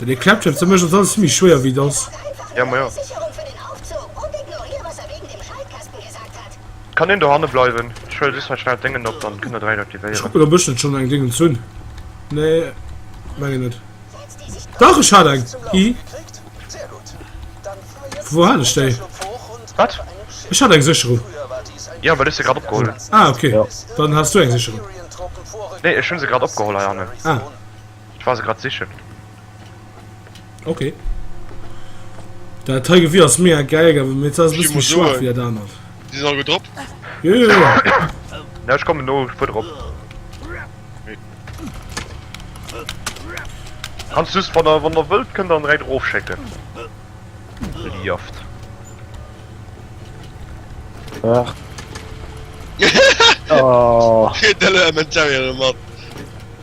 Den e Klappschiff ze méchen ass alles vill méi schwéier wéi et ass. Ja, ma ja. Kann een dohanne bleiwen? Ech huele just mei schnell d'Déngen op, dann kënnt der dräi aktivéieren. Ech kucken op ech net schonn eng Déngens hunn. Nee, mengen net. Dach ech hat eng! Hi! Vu wou hat ech déi? Wat? Ech hat eng Sécherung. Jo, well ech se grad opgeholl hunn. Ah, okay. Dann has du eng Sécherung. Nee, ech hunn se grad opgeholl heiannen. Ah. Ech war se grad sichen. Ok. Dat hei Gewir ass mega geil, awer mir ze bis méi schwaach fir dat anert. Di sinn all gutt drop? Jo jo jo. Ja ech kommen no, ech fuer drop. Kanns just wann der wann der wëllt kënnt der an Reit erof schécken. Fir di Jaft. Ach. Kritt den Elementarian mat.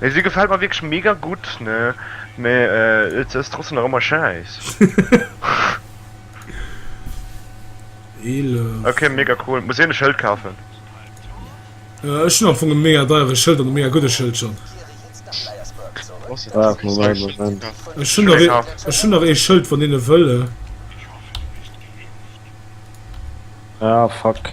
Mee si gefällt mer wierklech mega gutt, ne? Mee se ass trotzdem nach ëmmer schäiss. Ok, mega cool. Muss een e Schëld kafen? Ech hunn am Fong e mega deiere Schëld an e mega gudde Schëld schonn. Ech hunn nach ee Schëld, wann een e wëll. Ah fuck.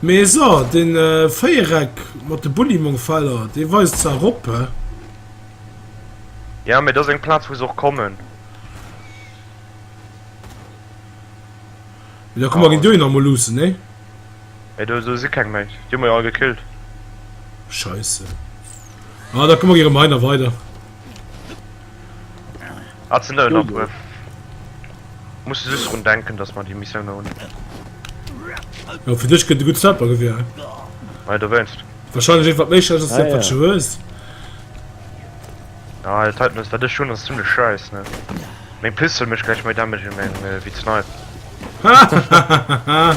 Mee so, de Véiereck mat de Bullymongfeller, dee weist zwar erop, hä? Ja, mee et ass eng Plaz, wou se och kommen. Mee da komme ginn dohinner emol luussen, nee? Mee do si keng méi. Déi hu mer jo all gekillt. Scheisse. Ah, da komme mir erëm heihinner weider. Ah, ze nëll nach Jojo. bref. Muss just drun denken, dass mer déi Missioun nach hunn. Jo, fir dech gëtt e gutt Snipergewier, hä? Nei, dowéinst. Wahrscheinlech eent wat méi schlecht ass, wéi Ah, dat wat ja. scho hues. Ah, dat heiten ass, wat ech hunn, ass zimmlech schäiss, ne? Meng Pistol mécht gläich méi Damage wéi meng, äh, wéi d'Snipe. Hahahaha.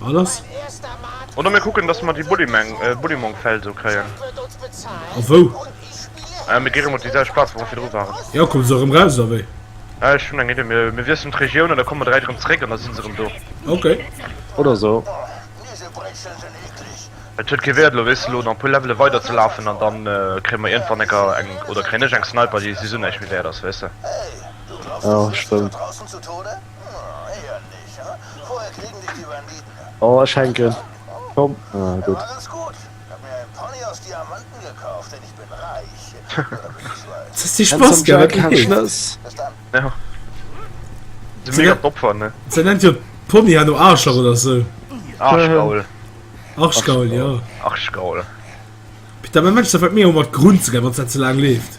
Wat ass? Oder mir kucken dass mer déi Bullymeng, Bullymong Feld do kréien. A wou? Äh mir gi rëm op déi selwecht Plaz wou mer virdru waren. Jo komme se erëm raus oder wéi? Äh ech hunn eng Idee, mir mir wiesselen d'Regioun an da komme mer dräit erëm zréck an da si se erëm do. Okay. Oder sou. Et huet kee Wäert elo weess de lo nach e puer Levele weider ze lafen an dann kréie mer iergendwann enker eng, oder kréien ech eng Sniper déi souwisou näischt méi Wäert ass weess de. Jo stëmmt. Oh ech hänken, komm ah gutt. Se nennt jo d'Pony herno Aarschlach oder sou. Arschgaul jo. Peter, mäin Mënsch, dat wat mir hu mat Grunn ze geien, wann s dat ze laang leeft.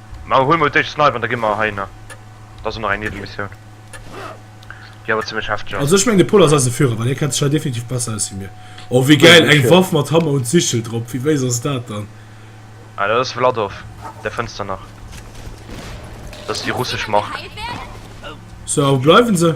Ma huel mol d'éischt Snipe an da gi mer hei nach. Dat ass och nach eng Niewemissioun, déi awer zimmlech hefteg ass. Also ech mengen de Pol ass eise Führer, well hie kennt sech hei definitiv besser aus wéi mir. Oh wéi gäil, eng Waff mat Hammer und Sichel drop, wéi wéiss ass dat dann? Ah dat ass Wladorf, där fënns der nach, dat ass déi russesch Mark. So a wou bleiwen se?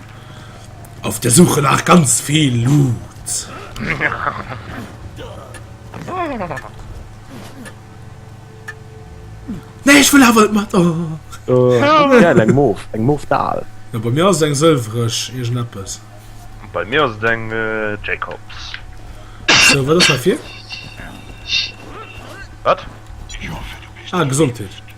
Auf der Suche nach ganz viel Loot. Nee, ich will aber mat oh. oh. ja, eng Mof eng Mof dal. Ja, bei mir ass eng sëlwreg Iech neppes. Bei mir ass eng äh, Jacobs. So, wat ass dafir? Wat? Ah, Gesundheet.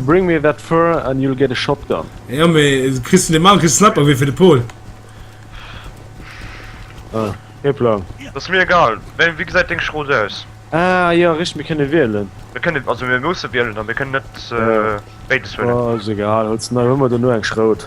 Bring me that fur and you'll get a shotgun. Jo mee du kriss vun dem Mann kriss Snapper wéi fir de Paul. Ah kee Plan. Dat ass mir egal. Wéi wéi gesäit deng Schrot aus? Ah jo richteg mir kënne wielen. Mir kënnen also mir musse wielen a mir kënnen net béides huelen. Ass egal huel ze nei huel mer dono eng Schrot.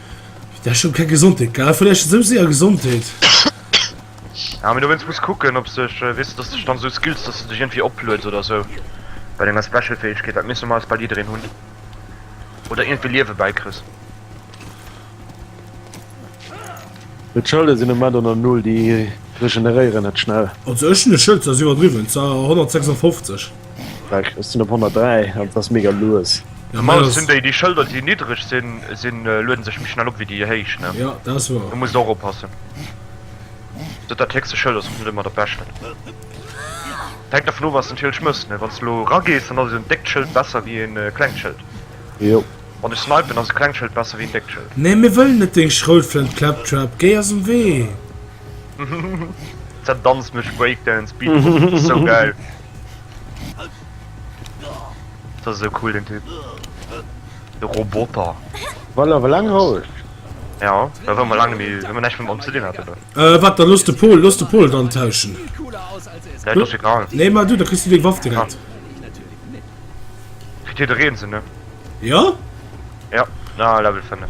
Dech schon keng Gesondheet gell? Vläicht esou séier Gesondheet? Ja mee dowéinst muss de kucken ob sech, weess de, dass sech dann esou Skills, dass de dech iergendwéi oplueds oder esou bei denger Special Fäegkeet, dat misst normalerweis bal jiddereen hunn, oder iergendwéi Liewe bäikriss. Mee d'Schëlde sinn um Moment an der Null, déi regeneréieren net schnell. Also ech hunn e Schëld, dat ass iwwerdriwwen, zwar 156. Weg, ech sinn op 103 an et ass mega lues. Ja, Normal das, sinn déi, déi Schëlder, déi niddreg sinn, sinn äh, lueden sech méi schnell op wéi déi héich, ne? ja, dat ass wahr. Du musst och oppassen. Dat dat héchste Schëld ass och net ëmmer dat Beschten. Et hänkt dervun of, was de natierlech mëss, ne? Wann s de elo eragees, dann ass en déckt Schëld besser wéi en äh, klengt Schëld. Jo. Wann ech snipen, ass e klengt Schëld besser wéi en déckt Schëld. Nee, mir wëllen net deng Schroutflënt, Claptrap, géi aus dem Wee! Zerdanzt mech Breakdance, Beat, sou gäil! Dat ass esou cool den Typ. De Roboter. Well awer laang roueg. Ja, da war mer laang méi, wa mer näischt mam Om ze dinn haten do. Äh, wat, da looss de Pol, looss de Pol et antauschen. Ja, et ass egal. Nee, mar du, da kriss du deng Waff direkt. Kritt jiddereen se, ne? Jo. Jo, na, Level 5.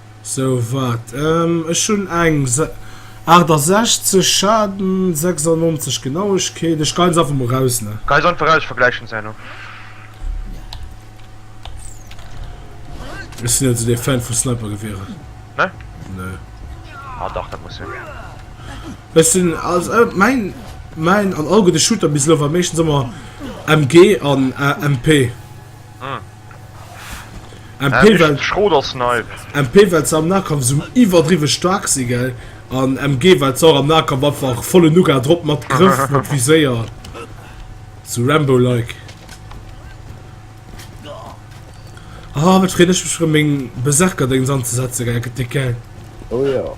So wat ech hun eng 68 Schaden 96 Genauegkeet, ech gein se einfach mol raus ne. Gein se einfach raus, ech vergläichen se herno. Ech sin net sou dee Fan vu Snipergewierer ne ne. Ah dach dat muss sin. Ech sin als main main an all gudde Shooter bis elo war meeschtens emmer MG an MP. MP well MP well se am Nahkampf esou iwwerdriwwe staark si gell an MG well se och am Nahkampf einfach vollen Uga drop mat Grëff mat Viséier esou Rambo-like. Ah wat freen ech mech erëm meng Berserker-Déngs anzesetzen gell gëtt déck gell. Oh jo.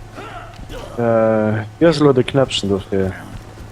Wéi ass elo de Knäppchen dofir?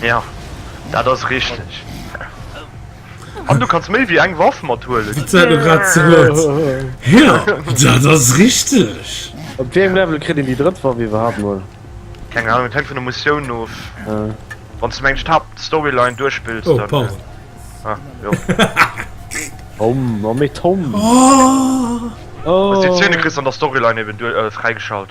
Ja, dat ass richteg. An du kanns méi wéi eng Waff mat huelen. Wat säit en grad zerëtt? Ja, dat ass richteg. Op wéi engem Level kritt een déi drëtt Waff iwwerhaapt mol? Keng Ahnung, et hänkt vun der Missioun of. Wanns de meng d'Haaptstoryline duerchspills, dann. Oh, pardon. Ah, jo. Tom, oh mee Tom. Wanns de déi Zäne kriss an der Storyline eben duer, fräigeschalt.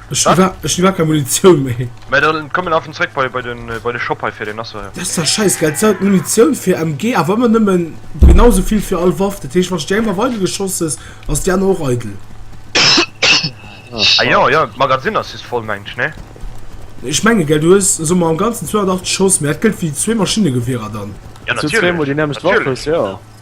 Ech Wat? war, ech war keine Munition méi. Mä dann komm mir lafen zréck bei bei den bei de Shop hei fir den ass jo hei. Dat ass ja scheiss gell, d'Sau d'Munition fir MG awer ëmmer nëmmen genau sou vill fir all Waff, dat heescht wann ech déi eng Waff eidel geschoss hues ass déi aner och eidel? Ah jo jo, d'Magazin ass just voll mengt ech ne? Ech menge gell du hues soe mer am ganzen 280 Schoss, mä dat gëllt fir déi zwee Maschinnegewierer dann? Jo Dass du zwee natierlech, mol déi nämmlecht Waff hues, natierlech. jo.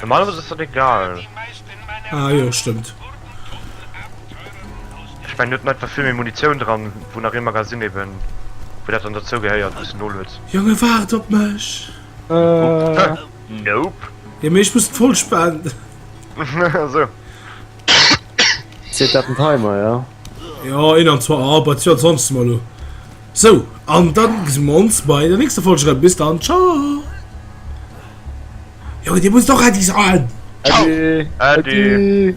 Normalerweise ist das egal. Ah jo, stimmt. Ech mengen net einfach vill méi Munition dran, wou nach ee Magasin eben wou dat dann derzou gehéiert wou's de nolueds. Jonge waart op mech! Nope. Jo mee ech muss et voll spenden. Sou. Zitt dat den Timer, jo? Ja, in an zwar ab, als wir sonst mal lo. So, an dann sehen wir uns bei der nächsten Folge. Bis dann, ciao. Ja, die muss doch endlich sein. Ciao. Adi. Adi. Adi.